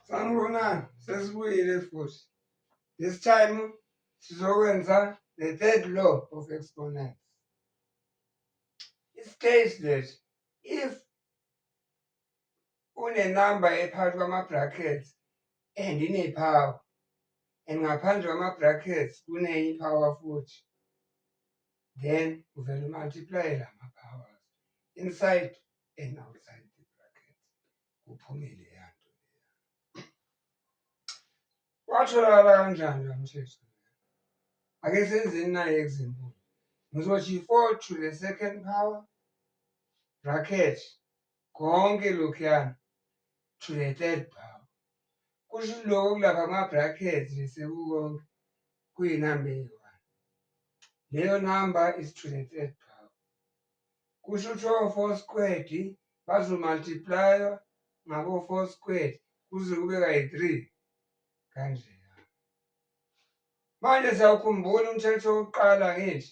Sanibonani, sesibuyile futhi. This time sizokwenza the third law of exponents. It states that if unenamba ephakathi kwama-bracket and iney'phawu and ngaphandle kwama-bracket kuney'phawa futhi then uvele umultiplaye la ma-powers inside and outside the bracket kuphumile yanto watholakala kanjani lo mthetho ake senzeni naye example ngizothi i-four to the second power bracket konke lokhuyana to the third power kusho lokho kulapha ama-brackets besekukonke kuyinamba eyi-one leyo namba is to the third power kusho ukuthi o-four squared bazomultiplaywa ngabo-four squared kuze kube kayi-three kanjena manje siyawukhumbula umthetho wokuqala ngithi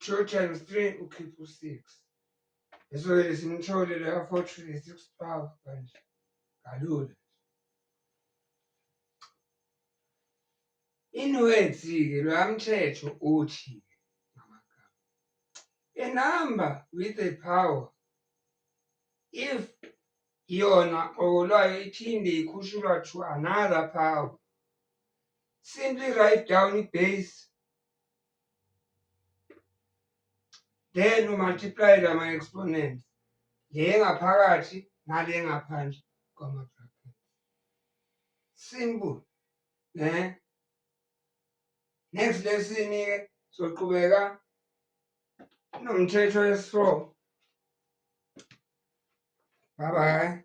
Two times three ukhipha u-six. Leso-ke lesimthole loya fortune le-six twelve kanje kalula. Inwedzi-ke loya mthetho uthi a number with a power if yona okolwayo iphinde ikhushulwa to another power simply write down ibase then umultiply lama exponent le ngaphakathi nale ngaphandle kwama bracket simple ne eh? next lesson ke soqhubeka nomthetho wesifo bye bye